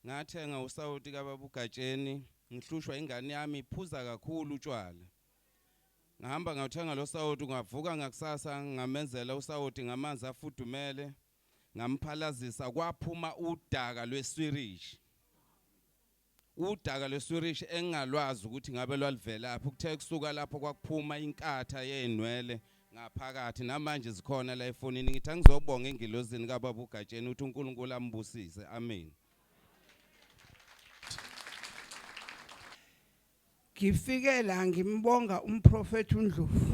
Ngathenga usawoti kababa uGatsheni ngihlushwa ingane yami iphuza kakhulu utshwala. Ngahamba ngawuthenga lo sawoti ngavuka ngakusasa ngamenzela usawoti ngamanzi afudumele ngamphalazisa kwaphuma udaka lweswirishi. Udaka lweswirishi engingalwazi ukuthi ngabe lwaluvelaphi kuthe kusuka lapho kwakuphuma inkatha yeynwele ngaphakathi namanje zikhona la efonini ngithi angizobonga engilozini kababa uGatsheni uthi uNkulunkulu ambusise amen ngifike la ngimbonga umprofeti uNdlovu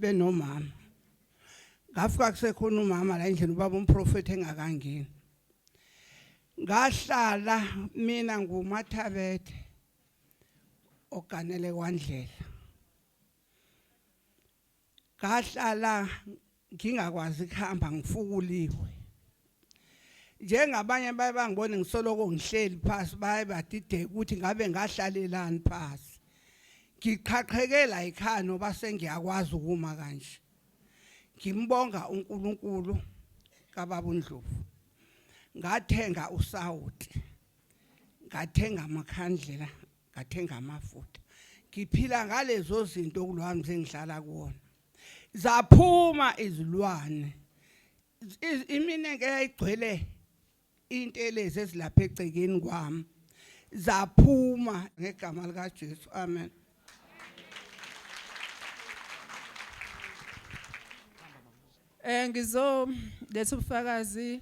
benomama ngafika kusekhona umama la endlini ubaba umprofeti engakangeni ngahlala mina ngumathabethe oganele kwandlela ngahlala ngingakwazi kuhamba ngifukuliwe njengabanye baye bangibone ngisoloko ngihleli phasi baye badideka ukuthi ngabe ngahlalelani phasi ngiqhaqhekela yikhaya noba sengiyakwazi ukuma kanje ngimbonga uNkulunkulu kababa uNdlovu ngathenga usawuti ngathenga amakhandlela ngathenga amafutha ngiphila ngalezo zinto kulwami sengihlala kuwona zaphuma izilwane imine ke yayigcwele intelezi ezilapha egcekeni kwami zaphuma ngegama likaJesu amen Eh ngizo letha ubufakazi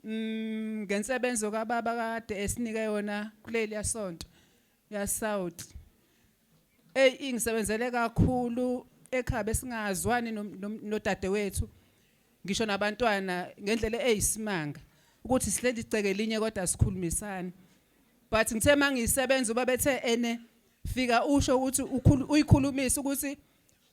Mm, ngensebenzo kababa kade esinike yona kuleli yasonto ya South. Ey ingisebenzele kakhulu ekhaya besingazwani no- no- nodadewethu. Ngisho nabantwana ngendlela eyisimanga ukuthi sihleli iceke linye kodwa sikhulumisana. But ngithe mangisebenza ubabethe ene fika usho ukuthi ukhulu- uyikhulumisa ukuthi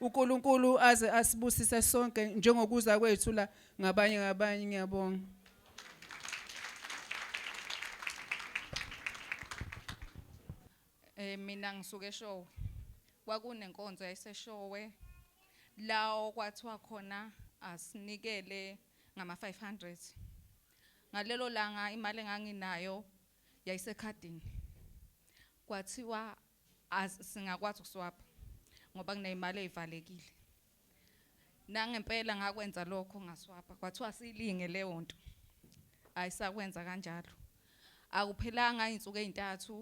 UNkulunkulu aze asibusise sonke njengokuza kwethu la ngabanye ngabanye ngiyabonga. Eh mina ngisuke eshowe. Kwakunenkonzo yayiseshowe la okwathiwa khona asinikele ngama 500. Ngalelo langa imali enganginayo yayisekhadini. Kwathiwa as singakwazi ukuswapha ngoba kuneyimali ezivalekile nangempela ngakwenza lokho ngaswapha kwathiwa silinge leyo nto ayisakwenza kanjalo akuphelanga izinsuku ezintathu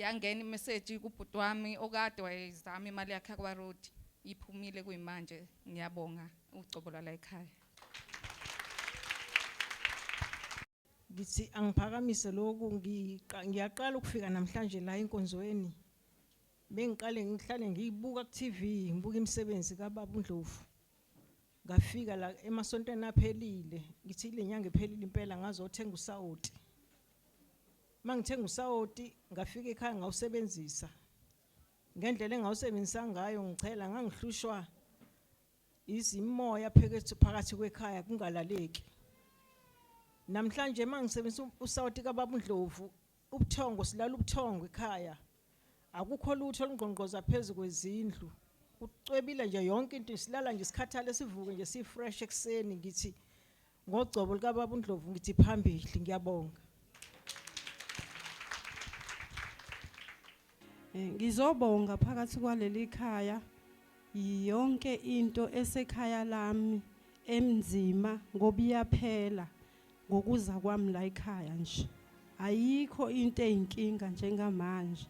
yangena imessage kubhuti wami okade wayezama imali yakhe kwa road iphumile kuyimanje ngiyabonga ugcobo lwala ekhaya Ngithi angiphakamise lokhu ngiyaqala ukufika namhlanje la enkonzweni. Bengiqale ngihlale ngiyibuka ku TV, ngibuka imisebenzi kaBaba uNdlovu. Ngafika la emasontweni aphelile, ngithi le nyanga ephelile impela ngazothenga usawoti. Mangithenga usawoti ngafika ekhaya ngawusebenzisa. Ngendlela engawusebenzisa ngayo ngichela ngangihlushwa izimoya phekethu phakathi kwekhaya kungalaleki namhlanje mangisebenzisa usawoti kababa uNdlovu ubuthongo silala ubuthongo ekhaya akukho lutho olungqongqoza phezulu kwezindlu ucwebile nje yonke into isilala nje isikhathale sivuke nje si fresh ekseni ngithi Ngogcobo likaBaba uNdlovu ngithi phambili ngiyabonga. Eh, ngizobonga phakathi kwaleli khaya yonke into esekhaya lami emnzima ngoba iyaphela ngokuza kwami la ekhaya nje ayikho into eyinkinga njengamanje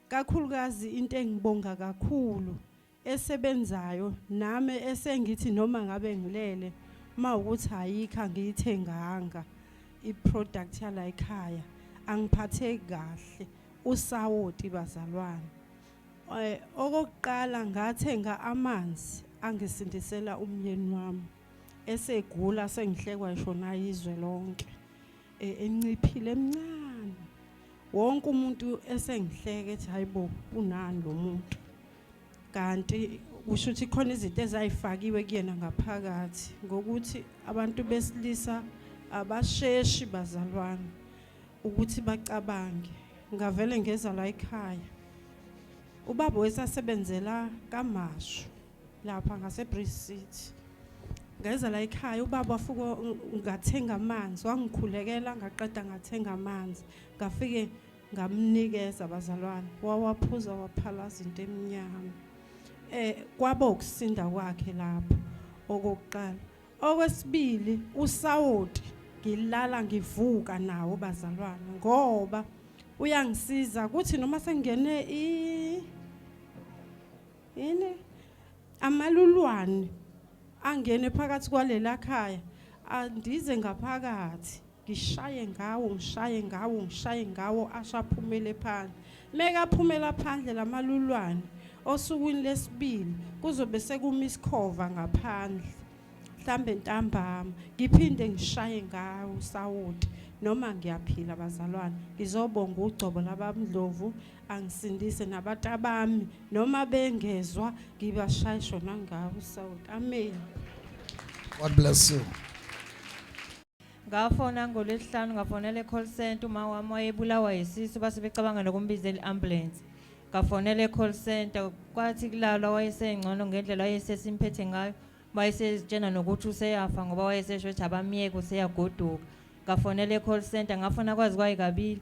kakhulukazi into engibonga kakhulu esebenzayo nami esengithi noma ngabe ngilele uma ukuthi ayikho angiyithenganga i-product yala ekhaya angiphatheki kahle usawoti bazalwane eh, okokuqala ngathenga amanzi angisindisela umyeni wami esegula sengihlekwa ishona izwe lonke e, enciphile emncane wonke umuntu esengihleke ethi hayibo unani lo muntu kanti kusho ukuthi khona izinto ezayifakiwe kuyena ngaphakathi ngokuthi abantu besilisa abasheshi bazalwane ukuthi bacabange ngavele ngeza la ekhaya ubaba wesasebenzela kamashu lapha ngaseBridge City ngeza la ekhaya ubaba wafuko ngathenga amanzi wangikhulekela ngaqeda ngathenga amanzi ngafike ngamnikeza abazalwane wawaphuza waphalaza into emnyama eh kwabo ukusinda kwakhe lapho okokuqala okwesibili usawoti ngilala ngivuka nawo bazalwane ngoba uyangisiza kuthi noma sengene i yini amalulwane angene phakathi kwalela khaya andize ngaphakathi ngishaye ngawo ngishaye ngawo ngishaye ngawo ashaphumele phandle mekaphumela phandle lamalulwane osukwini lesibili kuzobe sekuma isikhova ngaphandle mhlambe ntambama ngiphinde ngishaye ngawo sawoti noma ngiyaphila bazalwane ngizobonga ugcobo labamdlovu angisindise nabatabami noma bengezwa ngibashaya shona ngawo sawuthi amen God bless you ngafona ngolwesihlanu ngafonela e-call center uma wami wayebulawa yisisu base becabanga nokumbiza i-ambulance ngafonela e-call center kwathi kulalwa wayesengcono ngendlela wayesesimphethe ngayo wayesezitshena nokuthi useyafa ngoba wayesesho ukuthi abamyeke useyagoduka ngafonela e-call center ngafona kwazi kwayikabili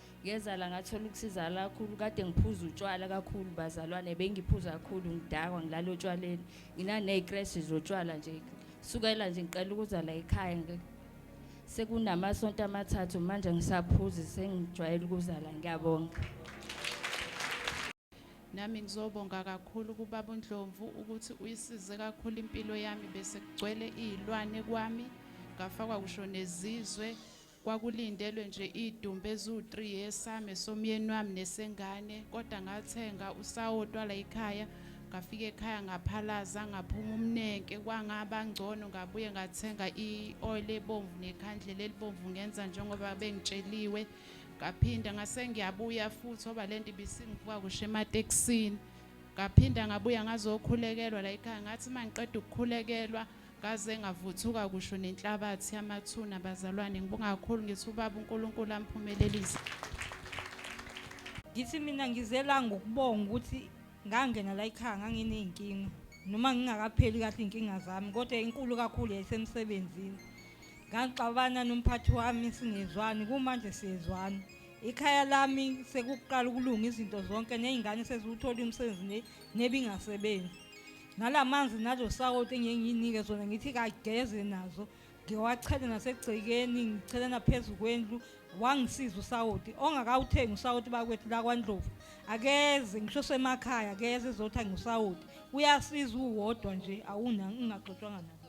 ngezala ngathola ukusizala kakhulu kade ngiphuza utshwala kakhulu bazalwane bengiphuza kakhulu ngidakwa ngilala otshwaleni nginaney'kreshi zotshwala nje sukela nje ngiqela ukuzala ekhaya sekunamasonto amathathu manje ngisaphuzi sengijwayele ukuzala ngiyabonga Nami ngizobonga kakhulu kubaba uNdlovu ukuthi uyisize kakhulu impilo yami bese kugcwele izilwane kwami ngafakwa kusho nezizwe kwakulindelwe nje idumbe ezu3 yesame somyeni wami nesengane kodwa ngathenga usawotwa la ekhaya ngafika ekhaya ngaphalaza ngaphuma umnenke kwangaba ngcono ngabuye ngathenga i-oil ebomvu nekhandlela elibomvu ngenza njengoba bengitsheliwe ngaphinda ngase ngiyabuya futhi oba lento ibisingivuka kusho ematekisini ngaphinda ngabuya ngazokhulekelwa la ekhaya ngathi uma ngiqeda ukukhulekelwa ngaze ngavuthuka kusho nenhlabathi yamathuna bazalwane ngibonga kakhulu ngithi ubaba uNkulunkulu amphumelelise ngithi mina ngizela ngokubonga ukuthi ngangena la ekhaya nganginey'nkinga noma ngingakapheli kahle iy'nkinga zami kodwa inkulu kakhulu yayisemsebenzini Ngangixabana nomphathi wami singezwani kumanje siyezwana. Ikhaya lami sekuqala ukulunga izinto zonke nezingane seziwuthola umsebenzi ne- nebingasebenzi. Nalamanzi nalo sawoti engeke nginike zona ngithi kageze nazo. Ngiwachele nasegcekeni ngichele naphezu kwendlu wangisiza usawoti ongakawuthengi usawoti bakwethu la kwaNdlovu. Akeze ngisho semakhaya akeze ezothenga usawoti. Uyasiza uwodwa nje awuna ngingaxotshwanga naye.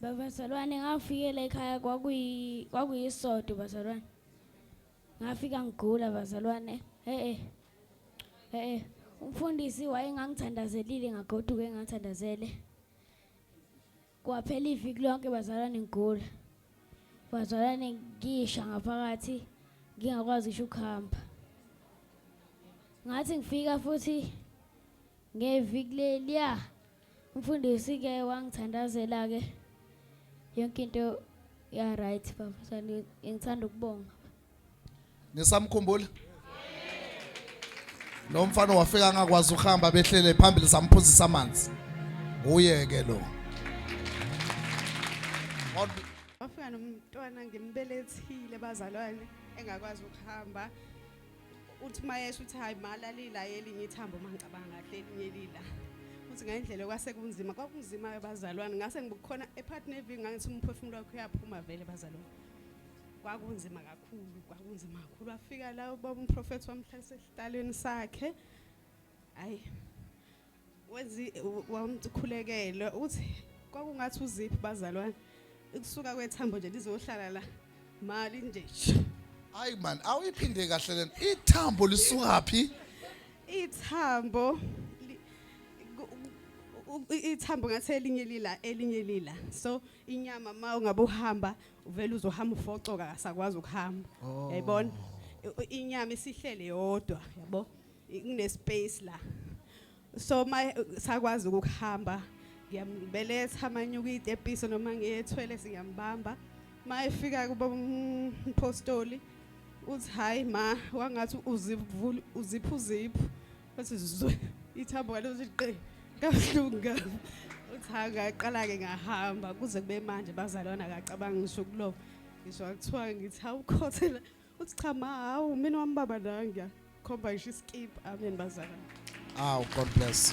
Babazalwane ngafikela ekhaya kwakuyi kwakuyisodo bazalwane. Ngafika ngigula bazalwane. Eh eh. Umfundisi wayengangithandazelile ngagoduka engathandazele. Kwaphela iviki lonke bazalwane ngigula. Bazalwane ngisha ngaphakathi ngingakwazi ngisho ukuhamba. Ngathi ngifika futhi ngeviki leliya Mfundisi ke wangithandazela ke yonke into ya right baba sani ngithanda ukubonga nisamkhumbula lo mfana wafika angakwazi ukuhamba behlele phambili samphuzisa amanzi nguye ke lo wafika nomntwana ngimbelethile bazalwane engakwazi ukuhamba uthi mayesho uthi hayi malalila elinye ithambo uma ngicabanga kahle elinye lila uthi ngendlela kwase kunzima kwakunzima abazalwane ngase ngibukhona ephart nevi ngangithi umphefumulo wakho uyaphuma vele bazalwane kwakunzima kakhulu kwakunzima kakhulu wafika la ubaba umprofethi wamhlalisa esihlalweni sakhe hayi Wezi wamkhulekele uthi kwakungathi uziphi bazalwane ikusuka kwethambo nje lizohlala la mali nje. Hayi man awuyiphinde kahle lena ithambo lisukaphi? Ithambo ithambo ngathi elinye lila elinye lila so inyama ma ungabe uhamba uvela uzohamba ufocoka akasakwazi ukuhamba oh. yayibona inyama isihlele yodwa yabo Ngine space la. So my sakwazi ukuhamba ngiyambeletha amanyuka itepiso noma ngiyethwele singiyambamba. Mayefika kuba umpostoli mm, uthi hayi ma wangathi uzivula uziphu ziphu wathi zwe ithambo ngalo ziqe kabuhlungu uthi hayi ngaqala ke ngahamba kuze kube manje bazalwana akacabanga ngisho kulo ngisho akuthiwa ngithi awukhothela uthi cha ma hawu mina wami baba la ngiyakhomba ngisho iskip amen bazalwane Aw, God bless.